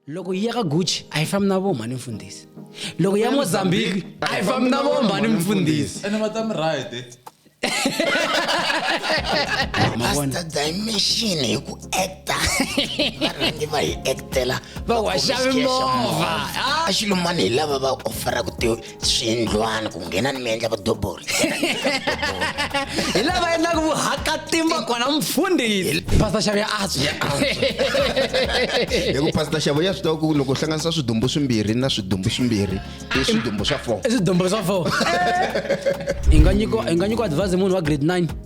loko yi ya ka gucci a yi fambi na voma ni mfundhisi loko ya mozambique a yi fambi na voma ni mfundhisi ene va ta mi right eh? mavona dimension hi ku acta varhangi va hi actela va waxa mimovha a xilumani hi lava va offeraka ti swiyindlwana ku nghena ni mi endla vadobori hi lava endlaka vuhakatimba kona mfundhisi pastor xavi ya antswa hi ku pastor xavo ya swi tiva ku loko hlanganisa swidumbu swimbirhi na swidumbu swimbirhi i swidumbu swa four i swidumbu swa four i nga nyikiwa advise munhu wa grade 9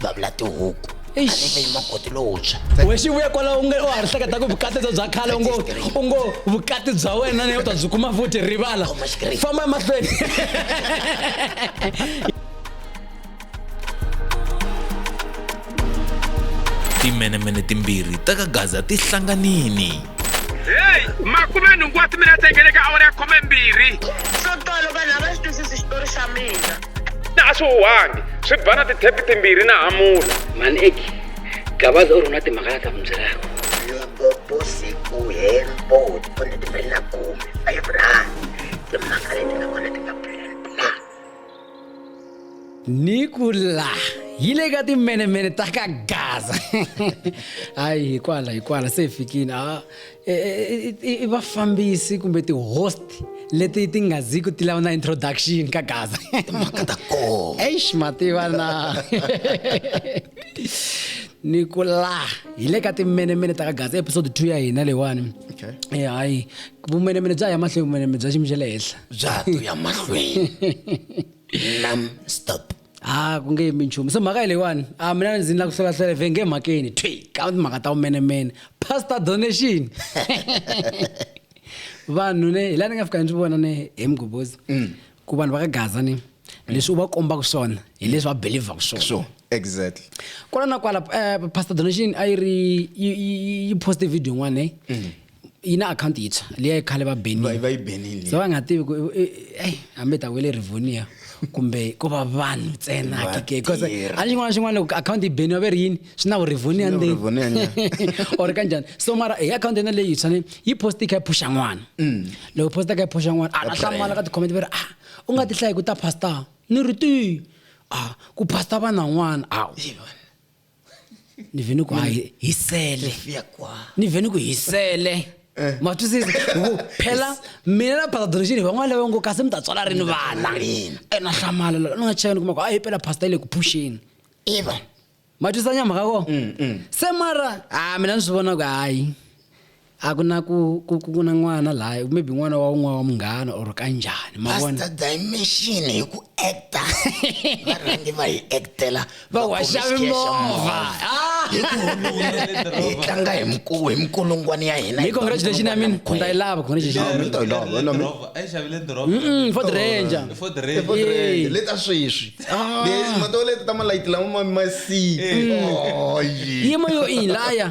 vavula tihuku anivei makoti lowuntshwa we xi vuya kwala u nge u ha ri hleketa ku vukati byo bya khale u ngo u ngo vukati bya wena ne u ta byi kuma futhi rivala famba emahlweni timenemene timbirhi ta ka gaza ti hlanganini heyi makume nhungu wa timinete engeleka awara ya khome mbirhi swo tolo vanhu a va xi twisisi xitori xa mina na a swi huhangi swi ba na tithepi timbirhi na hamula mani eki gabaza u ri na timhaka la ta mi byelaka loko vusiku hembo tipone timbirhi na khume five rand timhaka leti nga kona ti nga pulana ni ku la yi le ka timenemene ta ka gaza hayi hikwala hikwala se hi fikile a e, e, e, i vafambisi kumbe ti-host leti ti nga ziki ti lava na introduction ka gaza timhaka ta koho eish mativana ni ku la hi le ka timenemene ta ka gaza episode two ya hina leyiwani okay. e hayi vumenemene bya ya mahlweni vumenemene bya xiyimo xa le henhla bya ya mahlweni nam stop a ku nge yimi nchumu so mhaka yi leyiwani a mina ndzi ni la ku hlolahlole ve nge mhakeni thwi ka timhaka ta vumenemene pastor donation vanhu ne hi laha ni nga fika ni swi vona ne hi mugobhozi mm. ku vanhu va ka gaza ni leswi u va kombaka swona hi leswi va belivhaka swona sure exactly kwala na kwala um pastor donation a yi ri yi poste video yin'wana ne mm. yi na akhawunti yintshwa leyi khale va benile va yi benile se va nga tivi ku eyi hambi ta wele rivonia kumbe ko va vanhu ntsena hakeke because a ni xin'wana na xin'wana loko akhawunti yi beniwa ve ri yini swi na vurivonia ndzeni or ka njhani so mara hi akhawunti yena leyi tshwane yi post yi kha yi phuxa n'wana mm. loko post yi kha yi phuxa n'wana a a hlamala ka ti-comment ve ri a ah, u nga ti hlayi ku ta pastor ni ri ti a ah, ku pastor vanan'wana a ni ve ni ku hi- hisele ni ve ni ku hisele ma twisisa ku phela mina na pastor donation van'wana lava ngo kasi mi ta tswala rini vana ena hlamala loko ni nga cheka ni kuma ku a hi pela pastor yi le ku phuxeni eva ma twisisa nyamhaka ko se mara a mina ni swi vona ku hayi a ku na ku ku ku na n'wana laha maybe n'wana wa un'wana wa munghana or ka njhani ma vona pastor dimension hi ku actor va rhangi va hi actela va waxa mimovha ah! hi ku hi tlanga hi mkulu hi mkulungwana ya hina hi congratulation i mean ndza yi lava congratulation mi ta yi lava na mi a yi xavile ndoroba mm for the ranger for the ranger for the ranger leta sweswi ah. leti ma to leta ta malayithi lama ma masi mm. oh yi yima yo in laya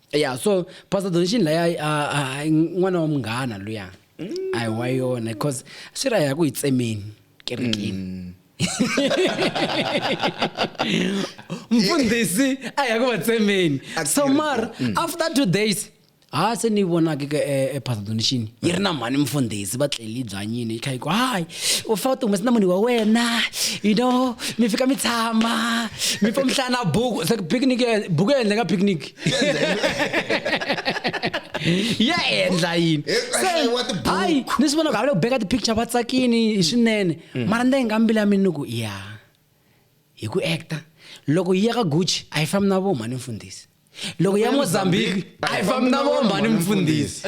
ya so pastor donation laya n'wana wa munghana luya mm. a hi wa yona because swi ra ya ku hi tsemeni kerekeni mm. mfundhisi a ya ku va tsemeni so mar mm. after two days ha se ni vonake ka epastor eh, eh, donation yi ri na mhani mfundhisi va tleli byanyini yi kha yi ku hayi u fa u ti humesi na munhu wa wena you know mi fika mi tshama mi fa mi hlaya na buku se picnic buku ya endleka picnic ya endla yini hayi ni swi vona ku havile ku beka ti-picture va tsakini hi swinene mm. mara ni ta yi nga mbila mini ni ku ya hi ku acta loko yi ya ka gucci a yi fambi na vo mhani mfundhisi loko ya mozambique a yi fambi na vo mhani mfundhisi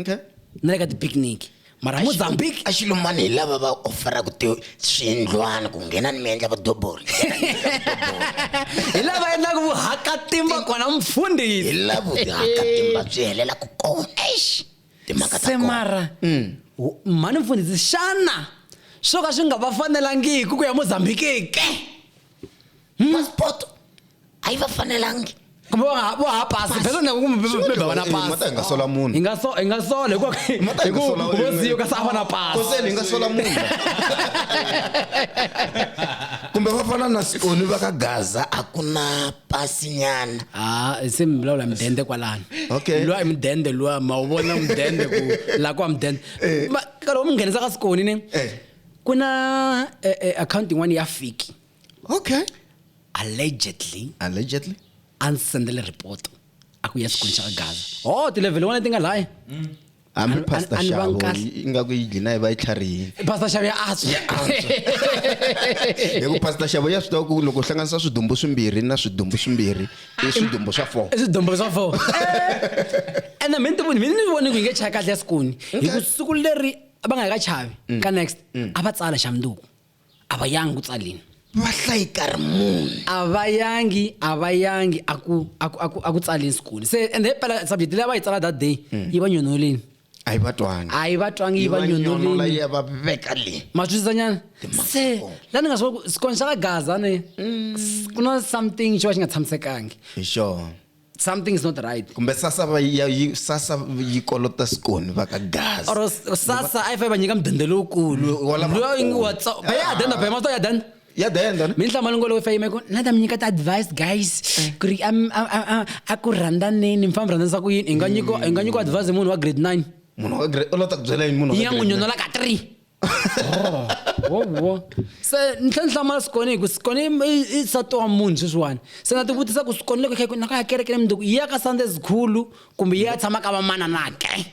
okay na le ka ti-picnic mara mozambique axilo mani hi lava va offeraka ti swiyindlwana ku nghena ni mi endla vadobori hi lava endlaka vuhakatimba kona mfundhisi hi lavo tihakatimba byi helela ku kona eish timhaka ta se kona mara mm. wu- mhani mfundhisi xana swo ka swi nga va fanelangiki ku ya mozambikeke passport a yi va fanelangi kumbe va nga- vo hava pasi phela na kumbe va- va- va va na mata hi pasi nga sola munhu hi nga so hi nga sola hikuva Mata hi nga sola hikuva wena. vosiyo ka se a va na pasi koseni hi nga sola munhu kumbe va fana na sioni va ka gaza a ku na pasinyana Ah, se mi vulavula mudende kwalano Okay. luwa i mudende luwa ma wu vona mudende ku la kwa mudende Ma- nkarhi wo mi nghenisa ka sikoni ne Eh. ku na eh, eh, akhawunti yin'wana ya fiki okay allegedly allegedly a ndzi sendele report a ku ya xikwini xa ka gaza ho tilevhele wona ti nga laya hambi Ani- pastor ani- ani va xavo nkahle. ingaku yi dlina yi va yi tlharihile pastor xavi ya antswa hi ku pastor xavo ya swi tiva ku loko u hlanganisa swidumbu swimbirhi na swidumbu swimbirhi i swidumbu swa four swidombolo swa fo ene mina tivoni mina ni vone ku yi nge chaya kahle ya sikuni hi ku siku leri va nga ka chavi mm. ka next mm. a va tsala xa munduku a va yangi ku tsalini va hlayi karhi munhu a va yangi a va yangi a ku a ku a ku a ku tsalini sikuni se ende hi pela subject leyi a va yi tsala that day mm. yi va nyonolini a yi va twangi a yi va twangi yi va nyonolini yi va veka le ma twisisanyana se la ni nga swi sikoni xa ka gaza ne ku na something xo va xi nga tshamisekangi hi sure something is not right kumbe sasa va ya yi sasa yi kolota skoni va ka gazi or sasa a yi fa yi va nyika mudende lowukulu mm. loyi ngi watso va ya denda ba masto ya denda ya denda minhlamalo ngolo fa yimeko na ta mi nyika ta advice guys eh. ku ri a ku rhandaneni mi famba rhandanisa ku yini i nga nyiko i nga nyiko advice munhu wa grade nine munhu wa grade u lota ku byela yini munhu ya n'wi nyonolaka three wowo se ni tlhe ni hlamala sikone hi ku sikone i nsati wa munhu sweswiwani se na tivutisa ku sikone loko khaku naka ya kereke ni mundzuku yi ya ka sunday zikhulu kumbe yi ya tshama ka vamananake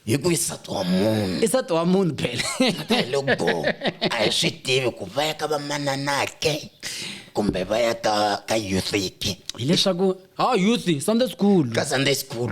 hi ku i nsati wa munhu i nsati wa munhu phela loko a hi swi tivi ku va ya ka vamananake kumbe va ya ka ka youthiki hileswaku ha youth sunday school ka sunday school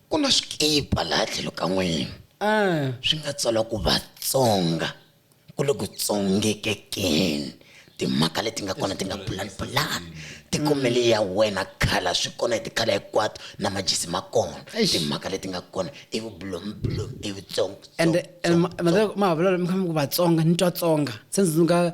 ku na swikipa laha tlhelo ka n'wina eh. swi nga tsala ku vatsonga ku le ku tsongekekeni timhaka leti nga kona ti nga pulanipulani tikumeli ya wena khala swi kona hi tikhala hinkwato na majisi ma kona timhaka leti nga kona i vublomblom i vutsongo and mahavulelo mi khambi ku vatsonga ni twa tsonga se ndzi nga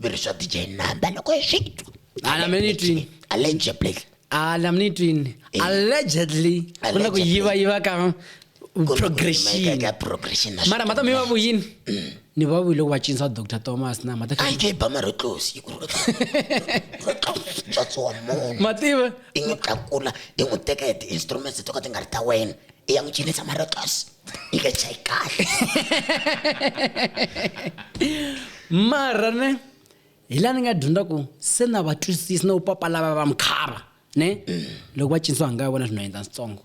mi ri swa dj number loko hi swi twa Ala mi ni twini? allegedly ala mi ni twini Eh. allegedly ku na ku Allegedly. yiva yiva ka Ku na ku progression yimeka ka progression na mara mhata mi va vuyini ni va vuyi loko va cinisa dr thomas na mhata a yi ke yi ba mari tlosi yi ku ri ri tlosi tswatsi wa munhu mativa i n'wi tlakula i n'wi teka hi ti-instruments to ka ti nga ri ta wena i ya n'wi cinisa mari tlosi yi nga chayi kahle mara ne hi laha ni nga dyondza ku se na va twisisi na vupapa lava va mukhava ne loko va cinisiwa hanga ya vona swi no endla switsongo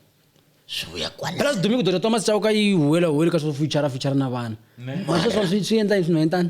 swi vuya kwala phela sidumi ku dota tomasi chauka yi huwela huweli ka swo fuchara fuchara na vana masweswa swi swi endla yini swi no endlani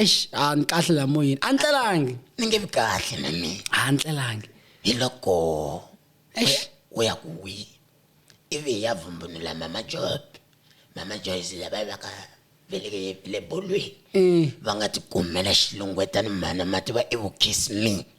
eish a ni kahle la moyeni a ni tlelangi ni nge vi kahle na mina a ni tlelangi hi loko eish u ya ku wi ivi hi ya vumbunula mama job mama joyce lava va ka veleke le bolweni va nga tikumela xilungwetani mhana mati va evukhisi mina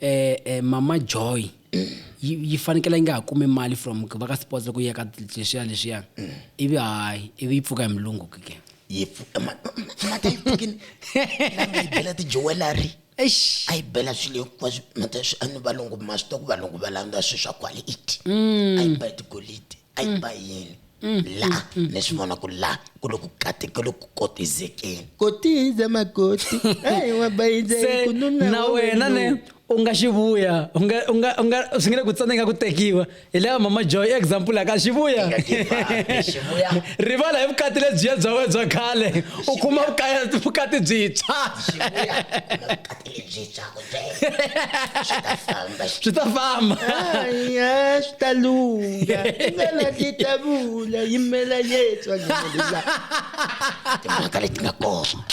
eh, eh, mama joy yi yi fanekele yi nga ha kumi mali from va ka sports loko yi ya ka leswiya leswiya ivi hayi ivi yi pfuka hi mulungu ke ke yi pfu- eh, ma- ma- ma- mata yi pfukini la nga yi bela tijuwelari Eish. a yi bela swilo hinkwaswo mata swi a ni valungu ma swi tiva ku valungu va landza swilo swa quality a yi bela tigolidi a yi ba yini la ni swi vona ku la ku loku kati ku loku kotizekeni kotiza makoti ayi wa bayiza se ku nuna na wa wena ne wena. u nga xi vuya u nga u nga u nga swi nge le ku tsana i nga ku tekiwa hi leya mama joy example ya ka xi vuya Nga give up, xi vuya. rivala hi vukati lebyiya bya wena bya khale u kuma vukaya- vukati byintshwa Xi vuya, na vukati Ibyi byakwe byena swi ta famba swi ta famba ya swi ta lungha tingana ti ta vula yimela yetswa ngelela timhaka leti nga kona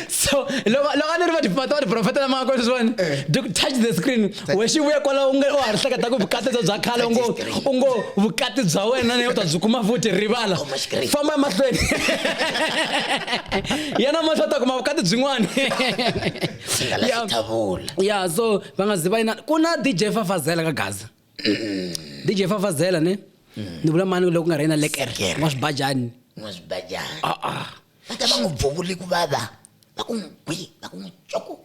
so loko loko a ni ri va va tiprofeta lama nga kona sweswiwani eh. touch the screen we xi vuya kwala u nge u ha ri hleketa ku vukati bya bya khale u ngo u ngo vukati bya wena ne u ta byi kuma futhi rivala famba emahlweni yena mahlwe ta kuma vukati byin'wana ya so va nga zi va yina ku na dj fafazela ka gaza mm. dj fafazela ne mm. ni vula mani loko ku nga ri yena lekere wa swibajani wa swibajani va ta va n'wi bvuvuli ku vava va ku n'wi gwi va ku n'wi coko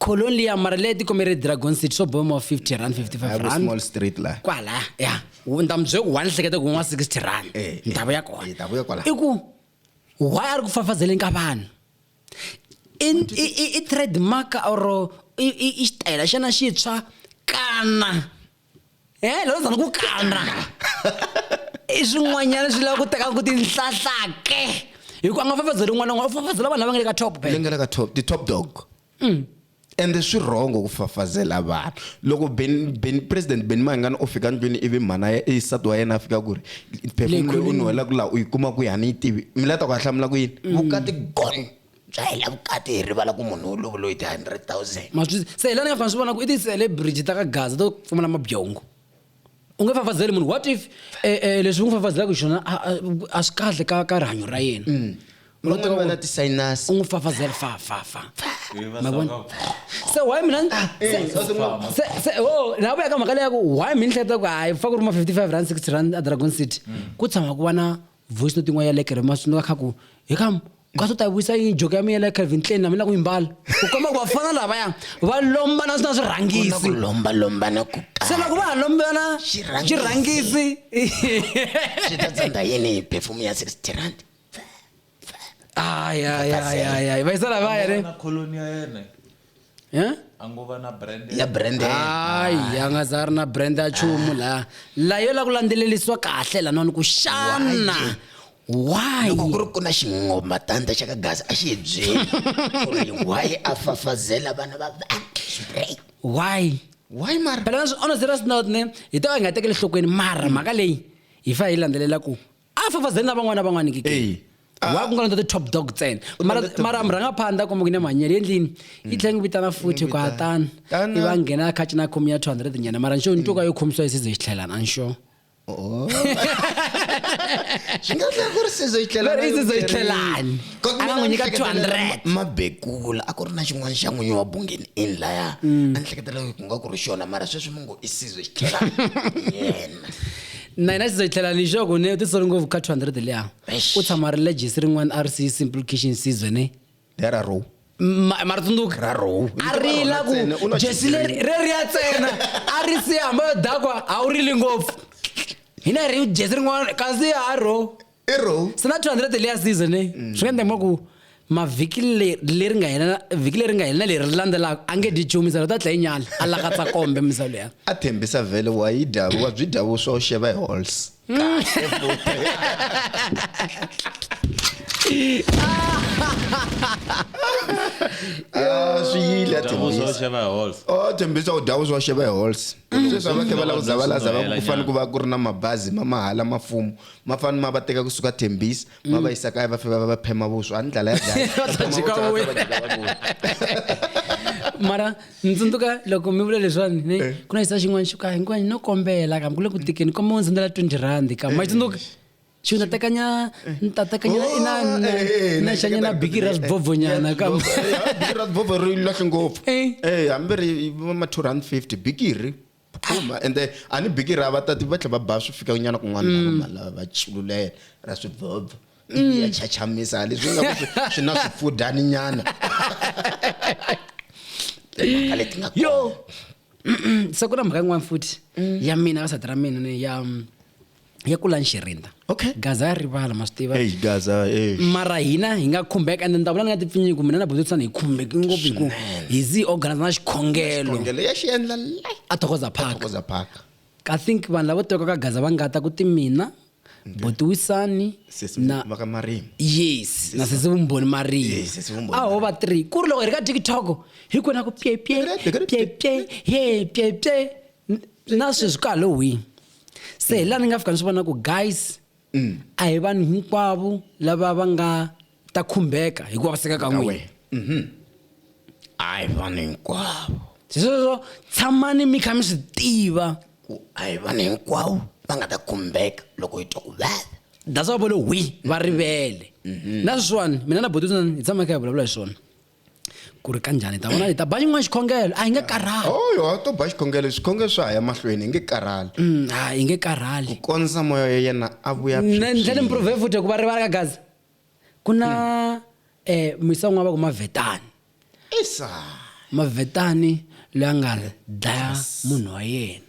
colon liya mara leyi tikome ri dragon city swo bomo 50 rand 55 rand small street la kwala ya ni ta mi byela ku wa ni hleketa ku n'wa 60 rand eh, eh, ni ta vuya kona eh, ta vuya kwala i ku why a ri ku fafazeleni ka vanhu i trademark or i xitayela xana xitshwa kana e lo zama ku kandra i swin'wanyana swi lava ku teka ku tinhlahlake hikuva a nga fafazeli n'wana n'wana u fafazela vanhu lava nga le ka top leyi nga le ka top ti-top dog mm. ende swi wrong ku fafazela vanhu loko ben, ben president beni mangani u fika ndlwini ivi mhana isati wa yena a fika ku ri phefumulo u nuhela ku laha u yi kuma ku yi hani yi tivi mi la ta ku a hlamula ku yini mm. vukati gone bya hela vukati hi rivala ku munhu u lovuloyi ti-hundred thousand ma swi se hilani nga fana swi vona ku i ti-celebrity ta ka gaza to pfumala mabyongo u nge fafazeli munhu what if eh, eh, leswi u n'wi fafazelaka xona a- a- a swi kahle ka ka rihanyo ra yena Mm. van'wana va na ti-sinus u n'wi fafazela fa fa fa ma vona se why mina ni- se- se se o la vuya ka mhaka leya ku why mi ni hleketa ku hayi fa ku ri ma 55 rand 60 rand a dragon city ku tshama ku va na voice note yin'wana ya le kerema swi nga kha ku hi kam ka swo ta vuyisa yini joke ya mina ya calvin klein na mina ku yimbala u komba ku vafana lavaya va lombana swi na swirhangisi lomba lombana ku se loko va ha lombana xirhangisi swi ta tsandza yini hi perfume ya sixty rand ayayayayay vayisa lavaya re eh? angova na brand ya brand hayi anga za ri na brand ya chumu la la yo la ku landzelelisiwa kahle la noni ku xana why loko ku ri ku na xingoma tanda xa ka gazi a xi byeli ku ri why a fafazela vana va why why mara phela ona zira sinotne hi to a hi nga tekeli nhlokweni mara mhaka leyi hi fa hi landzelela ku a fafazeli na van'wana van'wana ke ke Ah. wa ku nga londza ti-top dog ntsena U mara londza top mara dog. murhangaphandla kumbe ku ne manyele yendlini yi tlhela yi vitana futhi ku vitana. hatana Tana. i va nghena khaci na khomi ya 200 nyana mara nxo ntuka yo khomisiwa yi size xitlhelana a nxo Oh. swi nga tlhela ku ri sizo yi tlela Leri i sizo yi tlelani. A nga n'wi nyika 200. mabekula a ku ri na xin'wana xa n'winyi wa bungeni in laya a ni hleketela ku nga ku ri xona mara sweswi mi ngo i sizo yi tlelani yena na hina xizo hi tlhela ni xoko ne u titsoli ngopfu ka 200 liya u tshama ri legis rin'wana a ri si simplication season ne lera row Ma- mara tsundzuka Ra row. a rila ku Ntsena, u na jesi xigreen. leri reri ya tsena a ri si hamba yo dakwa a wu rili ngopfu hina hi ri jesi rin'wana kasi ha ro i row se na 200 layer season leyi mm. swi nga endla kuma ku mavhiki leri nga hela vhiki leri nga hela na leri ri landzelaka a nge dyi nchumu misalo ta dlayi nyala a lakatsa kombe misalo ya a thembisa vhele wa yi dya wa byi dya vuswa u xeva hi halls mm. ah, swi yile a oh, thembisa u dya vuswa u xeva hi halls mm. sweswi a va khe va lava ku zavalaza va ku fanele ku va ku ri na mabazi ma mahala mafumo ma fani ma va teka kusuka thembisi ma va yisa kaya va fika va va phema vuswa a ni dlala ya dlaya Va ta dya ka wena. mara ni tsundzuka loko mi vula leswiwani ne Eh. ku na xisa xin'wana xo ka hinkwani no kombela kambe ku le ku tikeni kombela u ndzi sendela 20 rand ka ma tsundzuka xi ni ta tekanya ni ta tekanya Oh, ina eh, eh, eh, na na xanya na xikandza- biki ra sibovonyana Yeah, kambe sibovho- eh, biki ra sibovho ri lahle ngopfu Eh. Eh, hambi ri va ma 250 bikiri phuma ende a ni biki ra vatati va tlhela va ba swi fika nyana kun'wana lava mm. malava va chululela ra swi bobha mm. ya chachamisa leswi nga ku swi na swifudani nyana timhaka leti nga yo se ku na mhaka yin'wana futhi mm. ya mina ka sati ra mina ni ya ya kula nxirinda okay gaza ya rivala ma swi tiva hey gaza hey mara hina hi nga khumbeka and ndavula ni nga tipfinyiku mina na bototisana hi khumbeki ngopfu hi ku hi zi organize na xikhongelo khongelo ya xi endla le a thokoza park thokoza park i think vanhu lavo tivaka ka gaza va nga ta ku ti mina botiwisani sesi na va ka marimi yes na sesi vumbhoni mariya Yes, sesi vumbhoni a ho va three ku ri loko hi ri ka tiktok hi kwena ku pyepye pyepye ye pyepye na sweswi ka halloween se hi laha ni nga fika ni swi vona ku guys mm. a hi vanhu hinkwavo lava va nga ta khumbeka hi ku vaviseka ka n'wina mhm. a hi vanhu hinkwavo se sweswo tshamani mi kha mi swi tiva ku a hi vanhu hinkwavo va nga ta khumbeka loko hi twa ku vava that's why vole wi va rivele mhm. na sweswiwani mina na bototan hi tshama kha hi vulavula hi swona ku ri kanjhani ta vona leta ba yin'wana xikhongelo a hi nge karhali oyo oh, a to ba xikhongelo xikhongelo swa ha ya mahlweni hi nge karhali mm, a hi nge karhali ku kondza moya ya yena a vuya ndlela mprove futhi hikuva rivala ka gaza ku na um hmm. eh, misa un'wana va ku mavetani isa mavetani loyi a nga dlaya munhu wa yena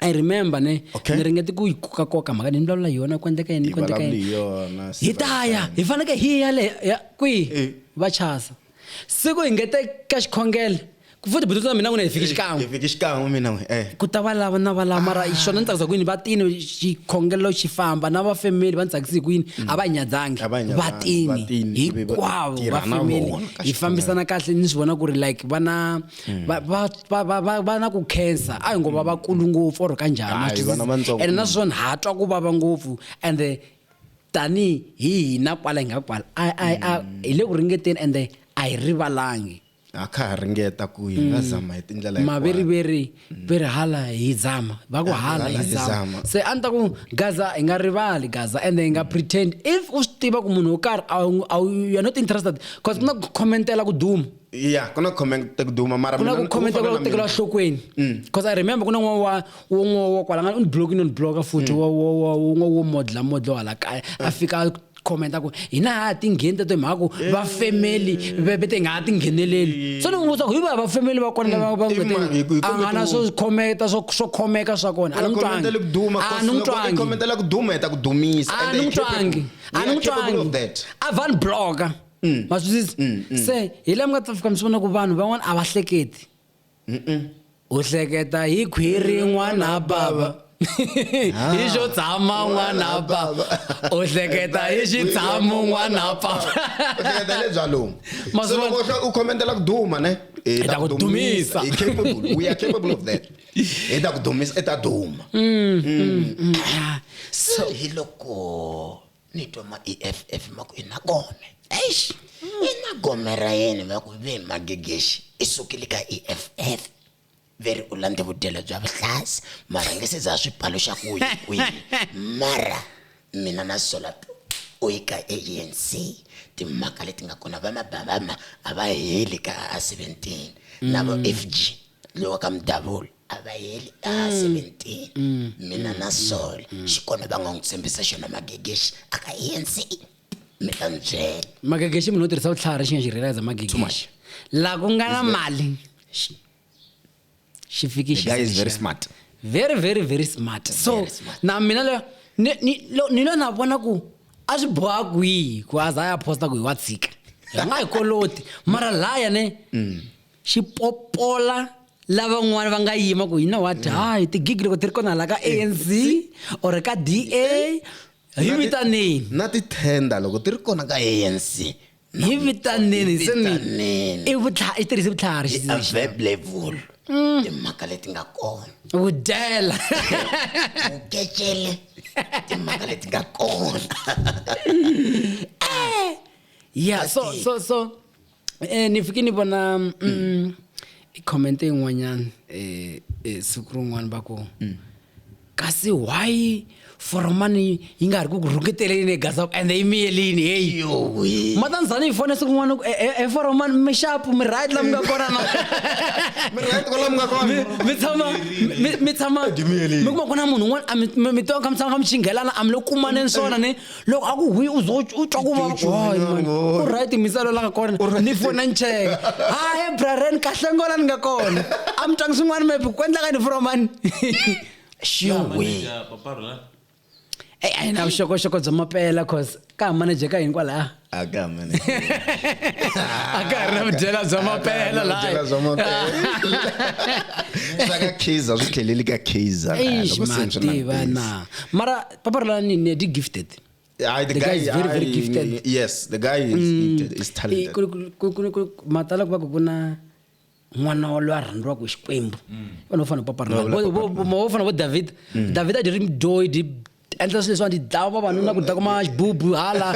i remember ne Okay. ni ringete ku yi kokakoka mhaka ni vulavula hi yona ku endleka yini ku endleka Yivulavuli yini hi yona, hi ta ya hi faneke hi ya le ya- kwihi Eh. va chasa siku hi ngete ka xikhongele ku futhi buti na mina ku ne hi fiki xikan'we Hi fiki xikan'we mina n'we eh ku ta va lava na va lava mara Ah. xona ni tsakisa ku yini va tini xikhongelo xi famba na va family va ni tsakisi ku yini a va hi nyadzangi Mm. A va hi nyadzangi, va tini va tini, ivi va hinkwavo va tirha na family vona ka hi fambisana kahle ni swi vona ku ri like va na hmm. va va va va va va na ku khensa a hi ngo va va kulu ngopfu or ka njhani ene naswona ha twa ku vava ngopfu and tani hi hina kwala hi nga kwala hmm. hi le ku ringeteni and a hi rivalangi a kha ha ringeta ku hi nga hmm. zama hi tindlela maveriveri ve ri hala hi zama va ku hala hi zama se a ni ta ku gaza hi nga rivali gaza ende hi nga pretend if u swi tiva ku munhu wo karhi a wu you're not interested because ku na ku commentela ku duma ya ku na comment ta ku duma mara ku na ku comment ku tekela hlokweni because i remember ku na n'wana wa wun'we wa kwala nga ni block ni ni block futhi wa wa wun'we wo modla modlo hala kaya a fika commenta ku hina ha ti ngheni ta timhaka ku va family ve te nga ha ti ngheneleli so ni n'wi vutisa ku hi va va family va kona lava va n'wi a nga na swo khometa swo swo khomeka swa kona a ni n'wi twangi a ni n'wi twangi comment la ku duma hi ta ku dumisa a ni n'wi twangi a ni n'wi twangi a van blogger mm. ma swisisa mm, mm. se hi laha mi nga ta fika mi swi vona ku vanhu van'wana a va hleketi u hleketa hi khwiri n'wana bava ah. hi xo tshama n'wana bava u hleketa hi xi tshamo n'wana bavahleketa lebya lomu se loko u khomentela ku duma ne hi ta ku dumisa hi capable we are capable of that hi ta ku dumisa i ta duma mm, mm, mm. Ah, so hi loko ni twa ma eff ma ku i na gome eish i na gome ra yena va ku ve magegexi i sukile ka eff ve ri u landze vudyelo bya vuhlasi mara nge se za swipalo xa ku yi kwihi mara mina na sola u yi ka anc timhaka leti nga kona va mabavama a va heli ka a 17 na vo fg lowa ka mudavula a va heli a 17 mina na sol xikonde va nga n'wi tshembisa xona magegexi a ka ANC mi ta ni byela magegexi munhu wo tirhisa vutlhari xi nga xi realize magegexi la ku nga na mali xi fikixi The guy is very smart. very very very smart so Very smart. na mina le- ni- ni- lo- ni lo na vona ku a swi boha kwihi ku a za a ya posta ku hi wa tshika hi nga hi koloti mara laya ne xi popola lavan'wana va nga yima ku you know what mm. hayi tigigi loko ti ri kona laha ka eh, anc or ka da hi vitaneni na tithenda loko ti ri kona ka anc hi vitaneni se ni i vutlha i tirhise vutlhari xi verb level Mm. timhaka leti nga kona u dyela u kecele timhaka leti nga kona eh! ya so so so eh ni fike ni vona mm, i comment yin'wanyana eh, eh siku rin'wana va ku kasi why foromani yi nga ha ri ku ku rhuketeleni egazaku ende yi miyelini heyi matanzani yi fone siku n'wana e, e, e foromani mi xapu mi right la mi nga kona na mi tshama mi tshama mi kuma ku na munhu un'wana mi twa ka mi tshama ka mi xinghelana a mi lo kumaneni swona ni loko a ku hwi u zo u twa ku vava hayi man u right misalo la nga kona ni fona nceke hayi braren kahle ngola ni nga kona a mi twangi swin'wana maybe ku endla ka ni from mani shiwe eyi a yi na vuxokoxoko bya mapela cause ka ha manager ka hinkwalaya a ka ha manager a ka ha ri na vudyela bya mapela laha bya mapela swa ka kaizer swi tlheleli ka kaizer eish ma tiva na mara Papa Roland ni ne di gifted. I, the, the guy, guy is very I, very gifted. Yes, the guy is mm. gifted, is talented. Matala kuba kuna mwana walo a rhandziwaka hi xikwembu mm. vanhu vo fana papa vo fana vo david mm. david a dyi ri mdoyi dyi endla swilo leswiwani dyi dlava vavanuna ku dya kuma xibubu hala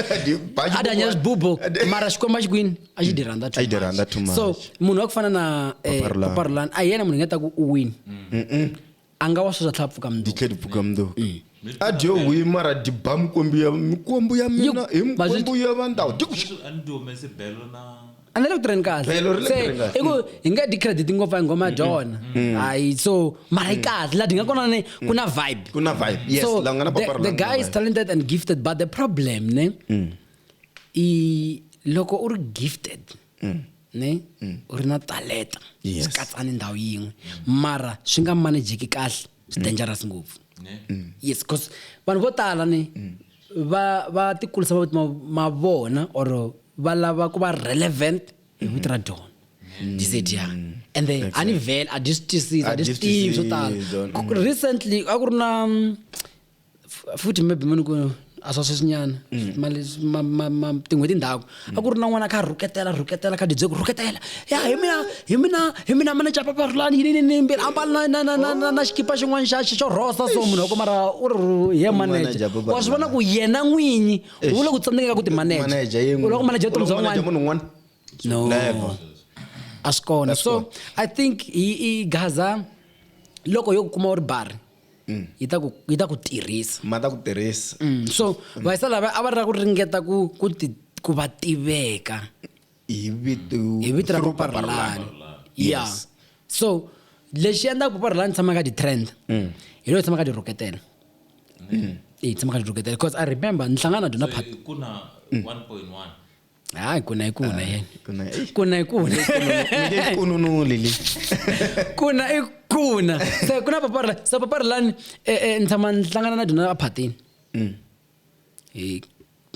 a dya nyela xibubu mara xikwembu a xi kwini a xi dyi rhandza so munhu wa ku fana na eh, papa rolani a hi yena munhu hi nga ta ku u wini Anga wa suza tlhapfu ka mnduka. Ditlhedi pfuka mnduka. Mm. A dio hui mara diba mikwembu ya mikwembu ya mina hi mikwembu ya vandawu. Dikushu. Ana le kutirheni kahle. Se i ku hi nga di credit ngopfu hi ngoma dyona. Hayi so mara yi kahle la dinga kona ne ku na vibe. Ku na vibe. Yes, la nga na papa The guy is talented and gifted but the problem ne i loko u ri gifted. ne mm. u ri na taleta swi yes. katsani ndhawu yin'we mara swi nga manejeki kahle swi mm. dangerous ngopfu mm. yes because vanhu vo tala ni mm. va va tikulisa ma vona or va lava ku va relevant hi vito ra dyona dizediya ende a ni vhele a dyi swi twisisi a dyi swi tivi swo tala recently a ku ri na futhi maybe mani ku a swa sweswinyana mm. tin'hweti ndhaku mm. a ku ri na n'wana kha rhuketela rhuketela kha didze ku rhuketela ya hi mina hi mina hi mina mina capa parhulani yini ni mbirhi ambala na na na na na xikipa xin'wana xa xo rhosa so munhu wa ku mara u ri ye manager wa swi vona ku yena n'winyi u le ku tsandzekeka ku ti manager u loko manager vutomi bya n'wana no a swi kona so i think i gaza loko yo ku kuma u ri bari mm. yi ta ku yi ta ku tirhisa ma ta ku tirhisa mm. so mm. vayisa lava a va ri ra ku ringeta ku ku ti ku va tiveka hi vito hi vito ra paparlani ya so lexi endlaka paparlani tshama ka ti-trend mm. hi loyi tshama ka ti-roketela mm. hi tshama ka ti-roketela because i remember ni hlangana na dyona phat hayi kuna hi kuna yena kuna hi kuna hi kuna kununuli li kuna i kuna se ku na papari lani se papari lani e, e, ni tshama ni hlangana na dyona aphatini mm. e,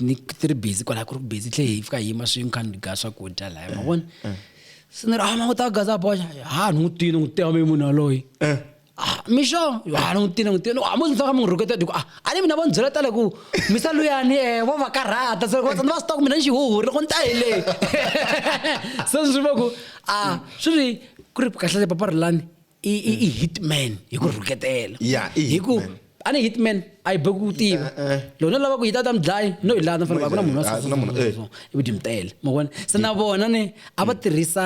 ni ti ri busy kwalaha ku ri busy tlhe hi fika hi yima swin'we kha ni ga swakudya laya ma vona se ni ri a ah, ma ku ta gaza boxa ha ni n'wi tini n'wi tiyame munhu yaloyi ah mixo a ni n'wi tini n'wi tini a mo ndzi ka munhu rhuketa diku a a ni mina va ni byela tale ku misa luyani eh vo va karhata se loko vatsandi va swi tiva ku mina ni xihuhuri loko ni ta hi leyi se swi va ku a swi ri ku ri kahlekahle papa rilani i i i hitman hi ku rhuketela ya hi ku a ni hitman a yi boki ku tiva eh, eh. loko no lava ku yi ta ta mi dlayi no hi lana fanele a ku na munhu wa so i vudimtele ma vona se na vona ni a va tirhisa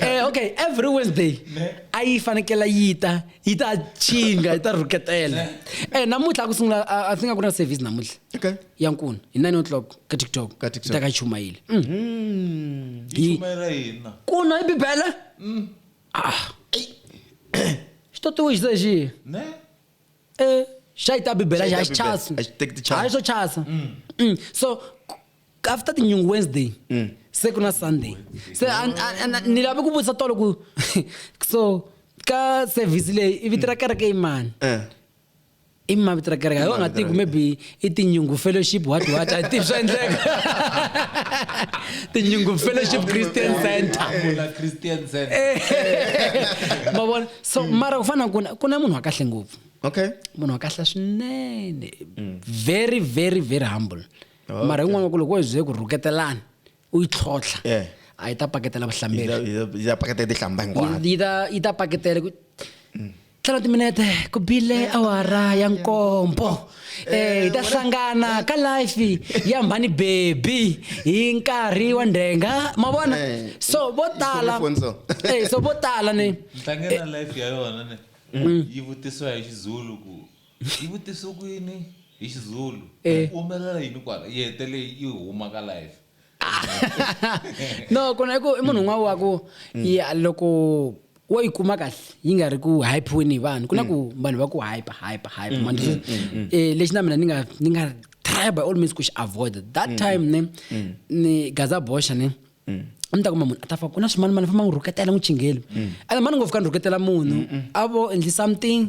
eh, okay every wednesday a yi fanekela yi ta yi ta chinga yi ta rhuketela eh namuntlha ku sungula a swi nga ku na service namuntlha okay ya nkuna hi 9 o'clock ka tiktok ka tiktok ta ka chumayile mm. mm. yi chumayela yena kuna i bibele mm. ah xito tiwe xi zeji ne eh xa yi ta bibele xa xi chasa a xi teki ti chasa a xi so chasa mm. mm. so after tinyungu wednesday mm. se ku na sunday se ni lave ku vutisa tolo ku so ka service leyi i vito ra kereke i mani eh. i ma vito ra kereke yo nga tiku maybe i tinyungu fellowship what what i tivi swa endleka tinyungu fellowship christian center ma vona so mm. mara ku fana ku na ku na munhu wa kahle ngopfu okay munhu wa kahle swinene mm. very very very humble Okay. mara yin'wana ku loko wo ze ku rhuketelana u yi tlhotlha Yeah. a yi ta paketela Yi vuhlamberi ta- yi ta- yi ta paketa yi tihlamba hinkwayo yi ta yi ta paketela ku tlhela timinete ku bile awara ya nkombo eh hi ta hlangana ka life ya mhani baby hi nkarhi wa ndhenga ma vona Eh, so vo tala Khome phone so. eh so vo tala ni ntlange na life ya yona ne yi vutisiwa hi xizulu ku yi vutise ku yini hi xizulu Eh. ku humelela yini kwala yi hetele yi huma ka life no kona i ku i munhu un'wana wa ku ya loko wo yi kuma kahle yi nga ri ku hypiweni hi vanhu ku na ku vanhu va ku hype hype hype man um lexi na mina ni nga ni nga try by all means ku xi avoid that time ne ni gaza bosha ne mm. a mi ta kuma munhu a ta fa ku na swimanimani famba n'wi rhuketela n'wi chingeli mm. ene mani ngopfu ka ni rhuketela munhu a vo endli something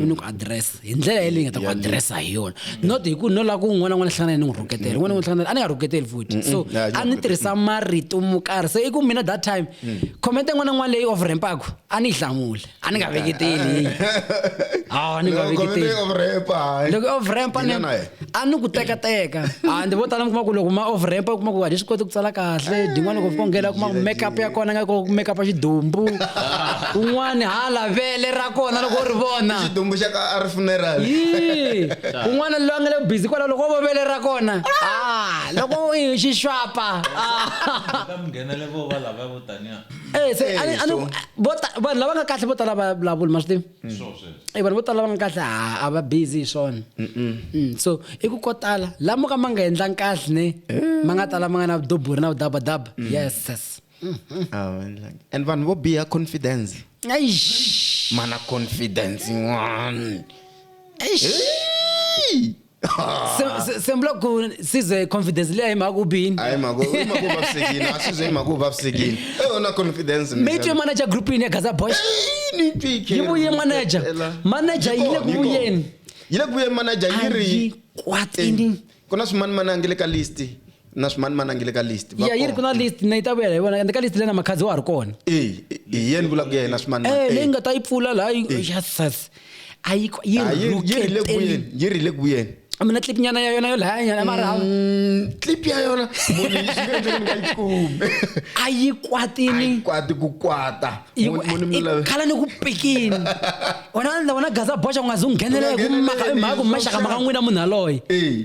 u ni ku address hi ndlela yeleyi nga ta ku addressa hi yona not hi ku no lava ku un'wana n'wana hlangana ni n'wi rhuketela un'wana n'wana hlangana a ni nga rhuketeli futhi so a ni tirhisa marito mo karhi se i ku mina that time comment n'wana n'wana leyi overrampaku a ni yi hlamule ani nga veketeli a ni nga veketeli loko overamp ni a ni ku teka teka a ndzi vo tala mi kuma ku loko ma overamp u kuma ku a ni swi koti ku tsala kahle din'wana loko fika nghena kuma ku makeup ya kona nga ko makeup ya xidumbu un'wana ha lavele ra kona loko u ri vona xidumbu xa ka a ri funeral yi un'wana loyi a nga le busy kwala loko vo vele ra kona a loko xixwapa a nghenele vo va lava vo taniya Eh, se, a ni- a ni- so- vo ta- vanhu lava nga kahle vo tala va vulavuli ma swi tivi Eh, vanhu vo tala lava nga kahle a a va busy hi swona Mm, so i ku ko tala lamo ka ma nga endlangi kahle ne ma nga tala ma nga na vudoburi na vudabadaba yes yes Ah, like- and vanhu vo biha confidence Eish. mana confidence yin'wana Eish. Hey! Se- se- sembula ku size confidence liya hi mhaka ku bini hayi mhako i mhako u vavisekile a swi ze i mhaka u vavisekile e yona confidence mi yi twe manager groupini ya gaza boys yi vuye manager manager yi le ku vuyeni yi le ku vuyeni manager yi ri ayikwatini ku na swimani mani a nge le ka list na swimani mani a nge le ka list va ya yi ri ku kona. na list na yi ta vuyela hi vona ende ka list leyi na makhadzi wa ha ri kona Eh, eh, hi yena vula ku ya yena swimani Eh, leyi nga ta yi pfula laha yi- Jesus. a yi yi Ah, yi yi ri le ku rhuketeli. vuyeni yi ri le ku vuyeni a mina clip nyana ya yona yo laya nyana mara hawu. Mm, clip ya yona munhu yi swi endleke ni nga yi kumi a yi Ai, kwatini kwati ku kwata Yi- Munhu- munhu mi i- lava- khala ni ku pikini wena wena gaza boxa ku nga zi u nghenela hi ku Ngheneleli, maka hi mhaka ku swa maxaka maka muxaka. n'wina munhu yaloye Eh,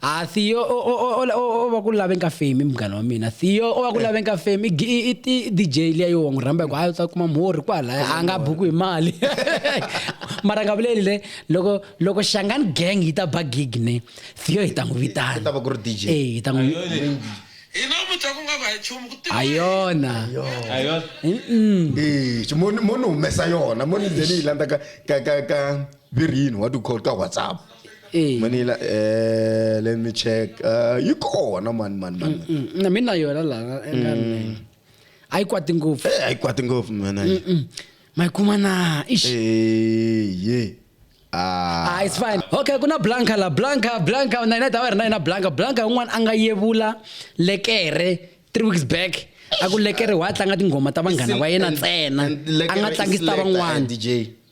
ha theo o- o- o- o- o- o va ku lave nka fame i munghana wa mina theo o va ku lave nka fame i gi- i- i- i dj liya yo wa n'wi rhamba hi ku hayi u ta kuma mhorhi kwalaya a nga buku hi mali mara nga vuleli le loko loko xangani gang yi ta ba gig ne theo hi ta n'wi Yi ta va vitana ku ri DJ. e hi ta n'wi hi namuntlha ku nga va hi nchumu ku tiva ha yona ayona Eh, xi- mo ni- mo ni humesa yona mo ni ze ni yi landza ka ka ka ka Virini wa ti-call ka WhatsApp. Eh. Manila eh let me check. Uh, yi kona man man man. Mm, mm. Na mina yona la. Mm. A yi kwati ngopfu. Eh a yi kwati ngopfu mina. Ma yi kuma na. Ish. Eh yeah. Ah. ah, it's fine okay kuna blanca la blanca blanca na ina ta va ri na yina blanca blanca un'wana a nga yevula lekere three weeks back a ku lekere wa tlanga tinghoma ta vanghana va yena ntsena a nga tlangisi ta van'wana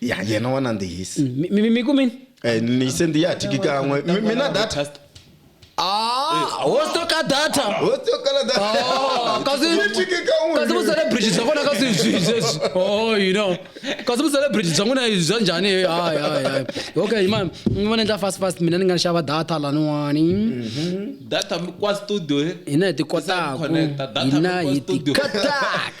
ya yena wa nandzihisa Mm, mi- mi- mi kumini Eh, ni sendi ya tiki kan'we Mi- mina data Ah, wo stoka data Wo tsokala data. Ah, kasi- Ni tiki kan'we. kasi vucelebrity bya kona kasi byi- byi- oh you know kasi vucelebrity bya n'wina bya njhani hayi hayi hayi okay ma mi vona endla fast fast mina ni nga ni xava data laniwani data mi kwa studio eh? hina hi ti Sa kotaku connecta, data hina mi kwa hi ti studio. kotaku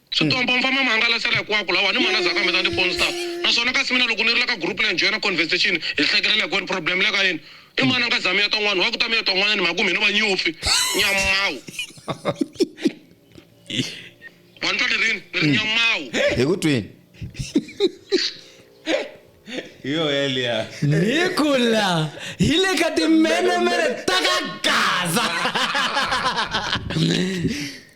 Switombo mi famba mi hangalasela hikwako lawa ni mana zaka mi ta ni ponsta naswona kasi mina loko ni ri la ka group la njhena conversation hi hlekelela hikwenu problem le ka yini i mana nga za mi ya twa n'wana wa ku ta mi ya twa n'wana ni mhaku mi no va nyupfi nyamawu wa ni twa ni rini ni ri nyamawu hi ku twini hi yo yeliya hi kula hi le ka timenemene ta ka gaza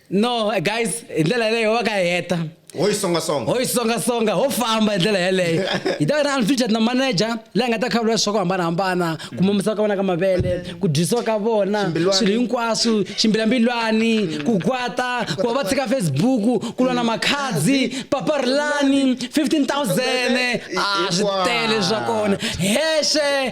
no guys hi ndlela yeleyo va ka heta ho yi songasonga ho yi songasonga ho famba hi ndlela yeleyo hi ta va na unfeatured na manager leyi nga ta khavula swa ku hambanahambana ku mamisa ka vona ka mavele ku dyisiwa ka vona swilo hinkwaswo ximbilambilwani ku kwata ku va va tshika facebook ku lwa na makhadzi paparilani 15000 a swi tele swa kona hexe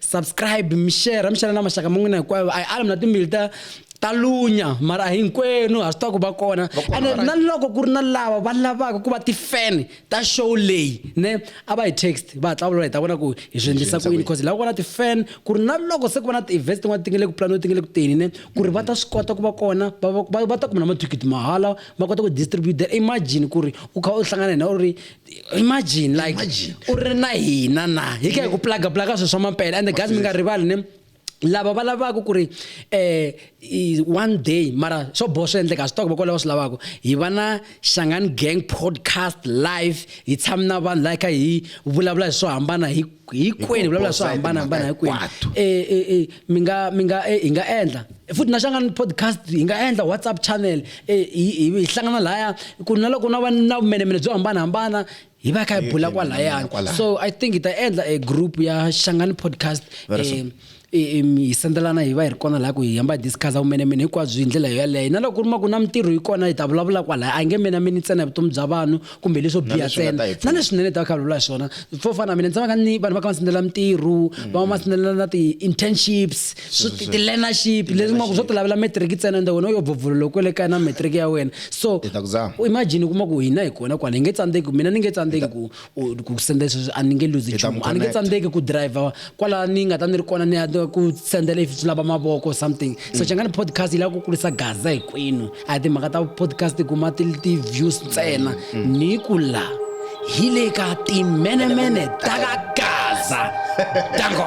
subscribe mi share mi xana na maxaka ma n'wina hinkwayo a hi ala mi na timbili ta ta lunya mara hinkwenu ha swi tiva ku va kona ene na loko ku ri na lava va lavaka ku va ti-fan ta show leyi ne a va hi text va hatla vulola hi ta vona ku hi swi endlisa ku yini because hi lava ku va na ti-fan ku ri na loko se ku va na ti-events tin'wana ti nge le ku planiwa ti nge le ku teni ne ku ri va ta swi kota ku va kona va ta kuma na mathikithi mahala va kota ku distribute imagine ku ri u kha u hlangana hina u ri imagine like Imagine. u ri na hina na hi ka hi ku plaga plaga swilo swa mampela and the guys mi nga rivali ne lava va lavaka ku ri eh i- one day mara swo boha swi endleka swi toko vakwalaho swi lavaka hi va na xangani gang podcast live hi tshami na vanhu laha hi kha hi vulavula hi swo hambana hi hinkwenu hi vulavula swo hambanahambana hinkwenu eh, eh, eh, mi nga mi nga hi nga endla futhi na xangana podcast hi nga endla whatsapp channel hi hlangana laya ku na loko na va na vumenemene byo hambanahambana hi va kha hi bula kwalayani so i think hi ta endla a group ya xangani podcast hi sendelana hi va hi ri kona laha ku hi hamba hi discussa vumenemene hinkwabyo hi ndlela yoyaleyo na loko ku ri ma ku na mintirho yi kona hi ta vulavula kwalaya a nge menameni ntsena hi vutomi bya vanhu kumbe leswo biha ntsena na leswinene hi ta va kha vulavula hi swona fo fana na mina ndzi tshamaka ni vanhu va kha va sendela mintirho va va ma sendela na ti-internships ti-learnership leswi ma ku swo ti lavela matric ntsena ende wena u yo bvovolo loko le kaya na matric ya wena so imagine u kuma ku hina hi kona kwala hi nge tsandzeki mina ni nge tsandzeki ku ku sendela sweswi a ni nge luzi nchumu a ni nge tsandzeki ku driver kwala ni nga ta ni ri kona ni ya ku sendela if swi lava mavoko something so xangani mm. podcast yi lava ku kulisa gaza hinkwenu a hi timhaka ta podcast kuma ti-views ntsena mm, mm. ni ku la hi le ka timenemene ta ka gaza tango